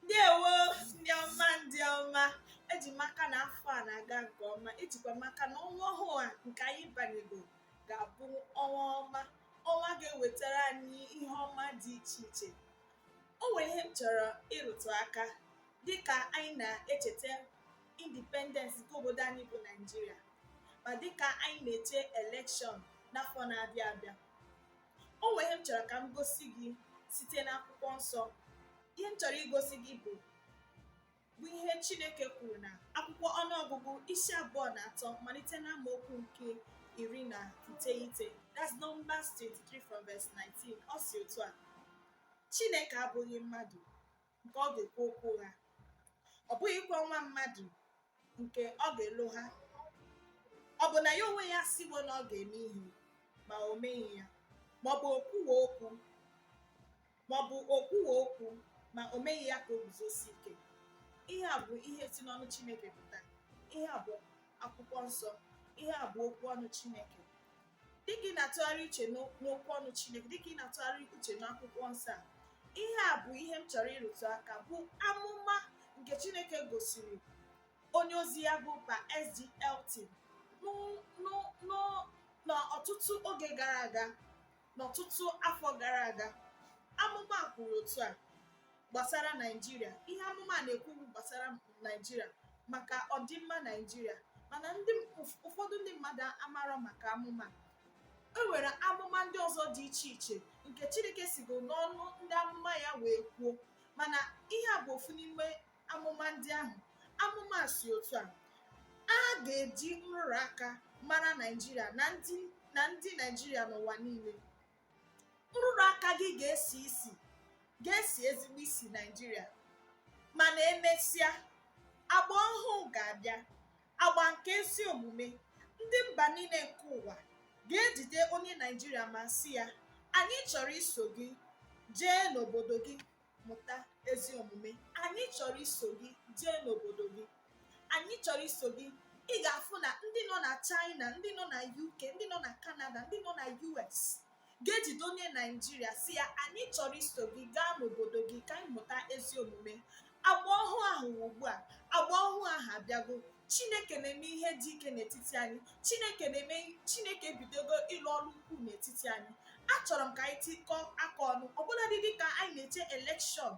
ndewo ndị ọma ndị ọma eji m aka na afọ a na-aga nke ọma ejikwa m aka na ọnwa ọhụụ a nke anyị banyego ga-abụ ọnwa ọma ọnwa ga-ewetara anyị ihe ọma dị iche iche o nwere ihe m chọrọ ịrụtụ aka dịka anyị na-echeta independence nke obodo anyị bụ Naijiria ma dịka anyị na-eche elekshọn n'afọ na-abịa abịa o nwere ihe m chọrọ ka m gosi gị site n'akwụkwọ nsọ ihe m chọrọ igosi gị bụ bụ ihe Chineke kwuru na akwụkwọ ọnụọgụgụ isi abụọ na atọ malite na amaokwu nke iri na iteghete that's Numbers 23 from verse 19 ọ sị otu a Chineke abụghị mmadụ nke ọ ga-ekwu okwu ụgha ọ bụghịkwa nwa mmadụ nke ọ ga-elogha ọ bụ na ya onwe ya sịwo na ọ ga-eme ihe ma o meghị ya maọbụ o kwuwo okwu maọbụ o kwuwo okwu ma o meghị ya ka o guzosie ike ihe a bụ ihe si n'ọnụ chineke pụta ihe a bụ akwụkwọ nsọ ihe a bụ okwu ọnụ chineke dịka ị na-atụgharị uche n'okwu ọnụ Chineke dịka ị na-atụgharị uche n'akwụkwọ nsọ a ihe a bụ ihe m chọrọ ịrụtụ aka bụ amụma nke Chineke gosiri onye ozi ya bụ Pa SG Elton n'ọtụtụ oge gara aga n'ọtụtụ afọ gara aga amụma kwuru otu a gbasara Naịjirịa ihe amụma a na-ekwu gbasara Naịjirịa maka ọdịmma Naịjirịa mana ụfọdụ ndị mmadụ amarọ maka amụma e nwere amụma ndị ọzọ dị iche iche nke Chineke sigo n'ọnụ ndị amụma ya wee kwuo mana ihe a bụ ofu n'ime amụma ndị ahụ amụma sị otu a a ga-eji nrụrụ aka mara Naịjirịa na ndị Naịjirịa n'ụwa niile nrụrụ aka gị ga-esi isi ga-esi ezigbo isi naijiria mana emesịa agba ọhụụ ga-abịa agba nke ezi omume ndị mba niile nke ụwa ga-ejide onye naijiria ma sị ya anyị chọrọ iso gị jee n'obodo gị mụta ezi omume anyị chọrọ iso gị jee n'obodo gị anyị chọrọ iso gị ị ga-afụ na ndị nọ na China ndị nọ na UK ndị nọ na Canada ndị nọ na US ga-ejide onye Naijiria sị ya anyị chọrọ iso gị gaa n'obodo gị ka anyị mụta ezi omume agba ọhụụ ahụ ugbu a agba ọhụụ ahụ abịago chineke na-eme ihe dị ike n'etiti anyị chineke na-eme chineke ebidogo ịlụ ọrụ ukwu n'etiti anyị achọrọ m ka anyị tikọọ aka ọnụ ọbụladị dịka anyị na-eche elekshọn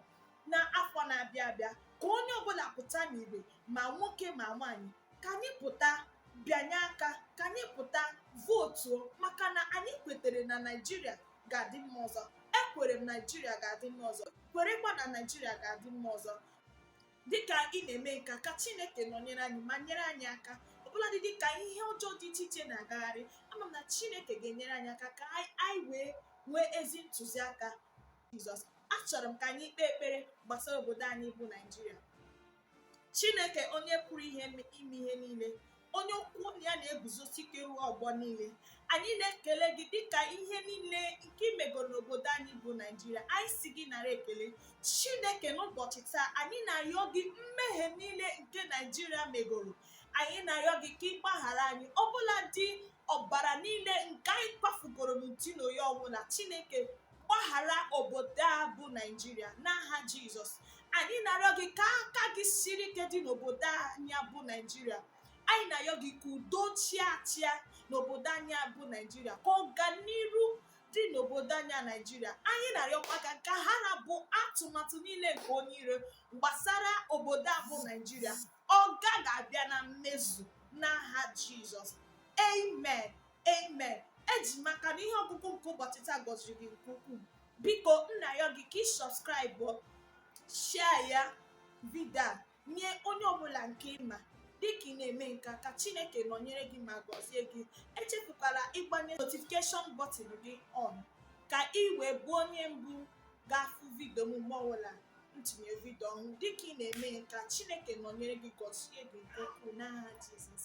n'afọ na-abịa abịa ka onye ọbụla pụta n'igwe ma nwoke ma nwaanyị ka anyị pụta bịanye aka ka anyị pụta vootuo maka na anyị kwetere na naijiria ga-adị mma ọzọ ekwere m naijiria ga-adị mma ọzọ kwerekwa na naijiria ga-adị mma ọzọ dịka ị na-eme nke a ka chineke nọnyere anyị ma nyere anyị aka ọbụladị dịka ihe ọjọọ dị iche iche na-agagharị ama m na chineke ga-enyere anyị aka ka anyị wee nwee ezi ntụziaka jizọs achọrọ m ka anyị kpee ekpere gbasara obodo anyị bụ naijiria chineke onye pụrụ ihe ime ihe niile onye okwu ọnụ ya na-eguzosi ike ruo ọgbọ niile anyị na-ekele gị dịka ihe niile nke i megoro n'obodo anyị bụ naijiria anyị sị gị nara ekele chineke n'ụbọchị taa anyị na-arịọ gị mmehie niile nke naijiria megoro anyị na-arịọ gị ka ị gbaghara anyị ọbụladị ọbara niile nke anyị kwafugoro n'uti na oyi ọbụla chineke gbaghara obodo a bụ naijiria n'aha jizọs anyị na-arịọ gị ka aka gị siri ike dị n'obodo anyị bụ naijiria anyị na-arịọ gị ka udo chịa achịa n'obodo anyị bụ naijiria ka ọganiru dị n'obodo anyị a naijiria anyị na-arịọkwa ka ka ha ra bụ atụmatụ niile nke onye iro gbasara obodo a bụ naijiria ọ gaghị abịa na mmezu n'aha jizọs amen Amen. Eji m aka na ihe ọgụgụ nke ụbọchị taa gọziri gị nke ukwuu. Biko m na-ayọ gị ka ị subscribe share ya vidio a nye onye ọbụla nke ị ma dịka ị na-eme nke a, ka Chineke nọnyere gị ma gọzie gị. Echefukwala ịgbanye notification button gị on ka ị wee bụ onye mbụ ga-afụ vidio m mgbe ọbụla m tinye vidio ọhụrụ. Dịka ị na-eme nke a, Chineke nọnyere gị gọzie gị nke ukwuu n'aha Jizọs.